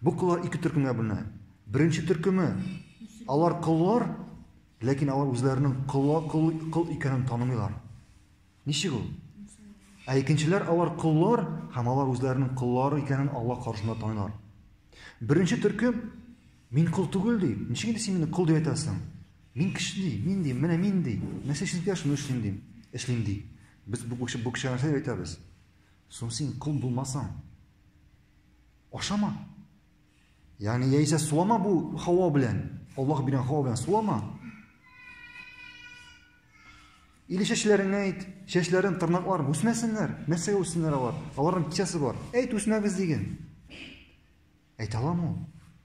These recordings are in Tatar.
Бу коллар ике төркемгә бүленә. Беренче төркеме, алар коллар, ләкин алар үзләренең колла кол кол икәнен танымыйлар. Ничек ул? Ә икенчеләр алар коллар һәм алар үзләренең коллары икәнен Аллаһ каршында танылар. Беренче төркем мин кол түгел ди. Ничек инде син мине кол дип әйтәсең? Мин кеше ди, мин ди, менә мин ди. Нәрсә эшлим дигән шуны эшлим ди. Эшлим ди. Без бу кеше бу кеше нәрсә әйтәбез? Соң син кол булмасаң. Ашама. Ягъни яисә сулама бу һава белән. Аллаһ биргән һава белән сулама. Или чәчләреңә әйт, чәчләрен, тырнакларын үсмәсеннәр. Нәрсәгә үссеннәр алар? Аларның кичәсе бар. Әйт, үсмәгез диген. Әйтә аламы ул?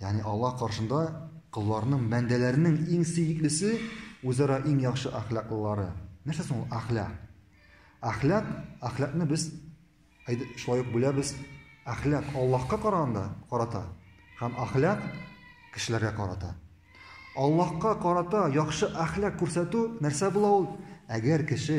Ягъни Аллаһ каршында колларның, бәндәләрнең иң сөеклесе үзара иң яхшы әхлаклылары. Нәрсә соң ул әхлак? Әхлак, әхлакны без шулай ук бүләбез. Әхлак Аллаһка караганда карата һәм әхлак кешеләргә карата. Аллаһка карата яхшы әхлак күрсәтү нәрсә була ул? Әгәр кеше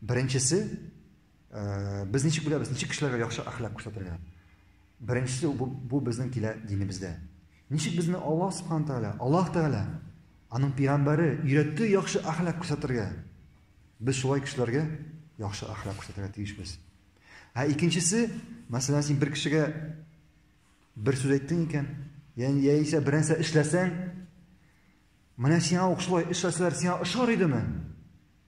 Беренчесе, без ничек беләбез, ничек кешеләргә яхшы әхлак күрсәтергә? Беренчесе бу, бу безнең килә динебездә. Ничек безне Аллаһ субхана тәгалә, Аллаһ тәгалә аның пигамбәре өйрәтте яхшы әхлак күрсәтергә. Без шулай кешеләргә яхшы әхлак күрсәтергә тиешбез. Ә икенчесе, мәсәлән, син бер кешегә бер сүз әйттең икән, яни яисә бернәрсә эшләсәң, менә сиңа ук шулай эшләсәләр, сиңа ошар идеме?